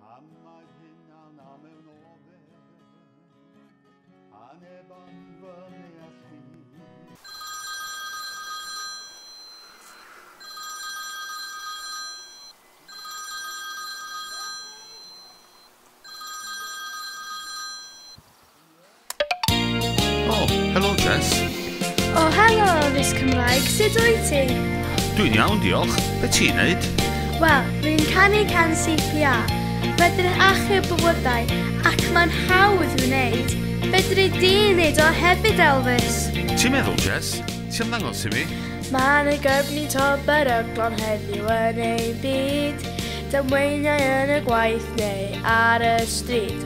Pam mae'r hyn a'n am mewn ofer A neb am fy neall i Oh, helo Jess. O, helo, Rhys Cymraeg, sut wyt ti? Dwi'n iawn, diolch. Be ti'n neud? Wel, rwy'n canu can CPA. Mae'n achub bywydau ac mae'n hawdd i'w wneud. Fedri di wneud o hefyd, Elvis. Ti'n meddwl, Jess? Ti'n ddangos i mi? Mae'n y gyrfni to beryglon heddiw yn ei byd. Damweiniau yn y gwaith neu ar y stryd.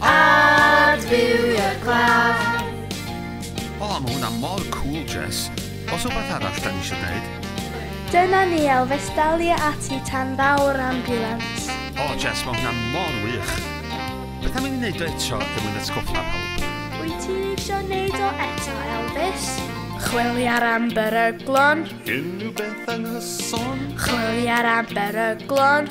Adfywio'r claf. O, mae hwnna mor cool, Jess. Os rhywbeth arall da ni eisiau dweud? Dyna ni, Elvis, dalia ati tan ddaw'r ambiwlans. O, Jess, mae hwnna mor wych. Beth am i ni wneud o eto er mwyn atgoffa pawb? Wyt ti eisiau wneud o eto, Elvis? Chwiliar am beryglon. Unrhyw beth anghyson. Chwiliar am beryglon.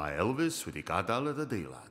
Mae Elvis wedi gadael yr adeilad.